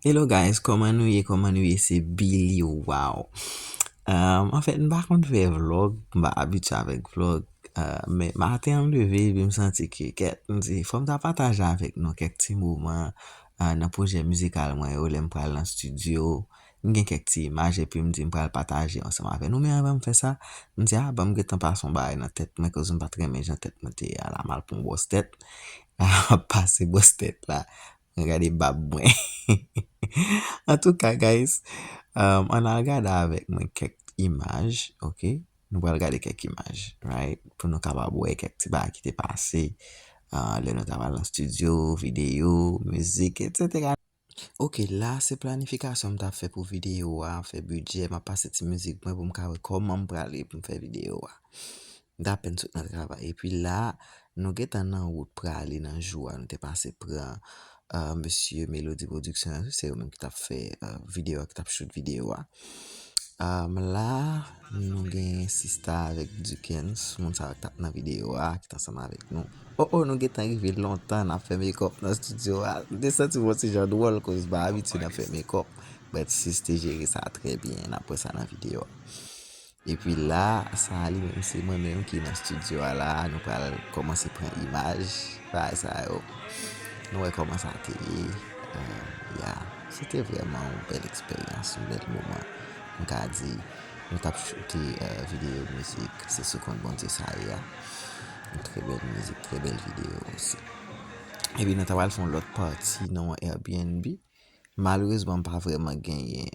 Hello guys koman nou ye koman nou ye se Billy waw en fèt m pa konn fè vlog m pa abitye avèk vlog men maten an m leve epi m santi ke kèt m di fò m ta pataje avèk nou kèk ti moman nan pwojè mizikal mwen yo lè m pral nan stidyo m gen kèk ti imaj epi m di m pral pataje ansanm avèk nou men avan m fè sa m di a banm gentan pase yon bagay nan tèt mwen koz m pa t renmen jan tèt mwen te ye a la m al pran yon bwòs tèt m ap pase bwòs tèt la. Mwen gade bab mwen. Antouka guys, ann al gade avèk mwen kèk imaj, ok. Nou pral gade kèk imaj, right, pou nou kapab wè kèk ti bagay ki te pase lè nou ta pral nan stidyo, videyo, mizik, etsetera. Ok, la a se planifikasyon m ta fè pou videyo a, fè bidjè, m ap pase ti mizik mwen pou m ka wè kòman m prale pou m fè videyo a. M t apèn sot nan travay epi la nou gentan nan wout prale nan jou a nou te pase pran mesye Melody production yo se yo menm ki tap fè video a ki tap shoot video a la nou gen sista avèk Dukens moun sa yo ki tap nan video a ki t ansanm avèk nou oh oh nou gentan rive lontan nap fè mekòp nan studio a m te santi m yon ti jan dwòl koz m pa abitye nan fè mekòp but sis te jere sa trè byen nap wè sa nan video a. Epi la sa li menm se mwen menm ki nan studio a la nou pral kòmanse pran imaj bagay sa yo nou wè kòman sa te ye ya se te vrèman yon bèl eksperyans yon bèl moman m ka di nou tap choute videyo mizik se sou kont Bondye sa ye a yon trè bèl mizik trè bèl videyo osi epi nou ta pral fè yon lòt pati nan yon airbnb. Malerezman m pa vrèman genyen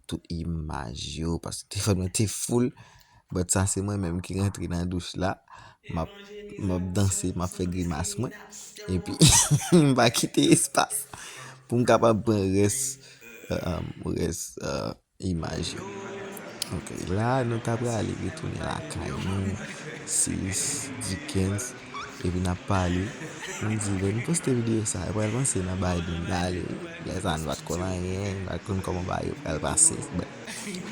tout imaj yo paske telefòn mwen te full but sa se mwen menm ki rantre nan douch la m ap danse m ap fè grimas mwen epi m pa kite espas pou m kapab pran rès Imaj yo ok la nou ta prale retounen lakay nou sis Dikens epi nap pale nou di lè nou poste videyo sa yo pral panse nan Biden pale wi lè sa nou pat konn anyen nou pat konn kòman bagay yo pral pase but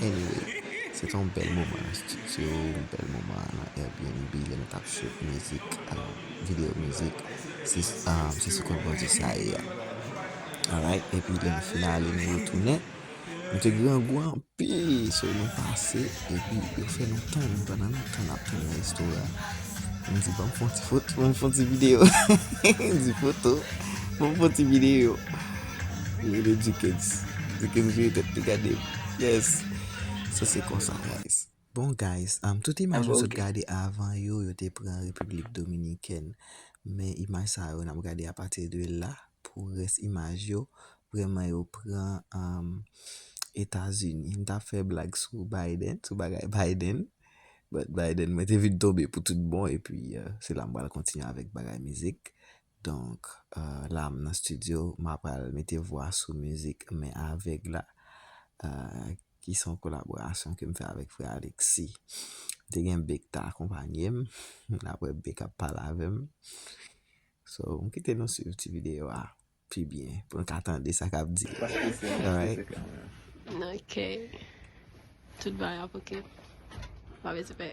anyway se te yon bèl moman nan studio yon bèl moman nan Airbnb lè nou tap shoot mizik videyo mizik sis se sou kont Bondye sa ye a alright epi lè nou fin ale nou retounen. Nou te grangou anpil so nou pase epi yo fè nou tann pandan nou tann ap tann nan resto a m di banm fon ti foto banm fon ti video m di foto banm fon ti video yo rele Dukens Dukens vire tèt li gade m yes sa se konsa guys Bon guys, tout imaj nou sot gade avan yo, yo te pran Repiblik Dominikèn. Men imaj sa yo nap gade apati de la pou rès imaj yo, vrèman yo pran Etazini. M tap fè blag sou Biden, sou bagay Biden, but Biden mwen te vin tonbe pou tout bon epi se la m pral kontinye avèk bagay mizik. Donk la m nan studio m apral mete vwa sou mizik Men Avèg la ki se yon kolaborasyon ke m fè avèk frè Alexis. M te gen Bee ki ta akonpanye m, aprè Bee k ap pale avè m. So m kite nou swiv ti videyo a pi byen pou nou ka tande sa k ap di. Ok, tout bagay ap ok, pa bese pè.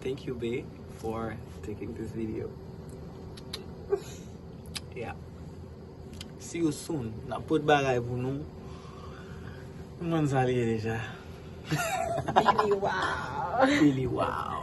Thank you bae for taking this video Yeah See you soon Nap pot bagay pou nou Nou konn sa li ye deja Billy wow Billy wow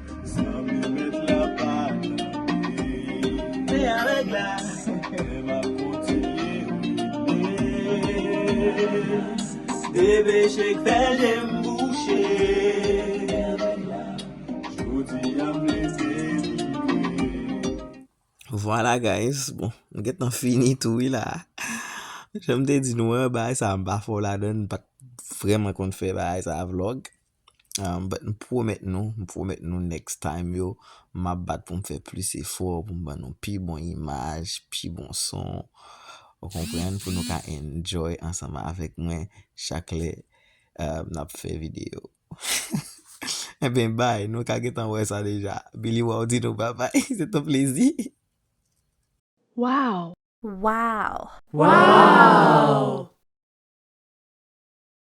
Vwala guys bon m gentan fini tou wi la Janm te di nou an bagay sa m pa fò ladann m pa vreman konn fè bagay sa vlog But m pwomèt nou, m pwomèt nou next time yo, m ap bat pou m fè plis efò pou m ban nou pi bon imaj, pi bon son. Ou konprann? Pou nou ka enjoy ansanm avèk mwen chak lè n ap fè videyo. Enben bye, nou ka gentan wè sa deja. Billy Wall di nou babay. Se t on plezi. Wow! Wow! Wow!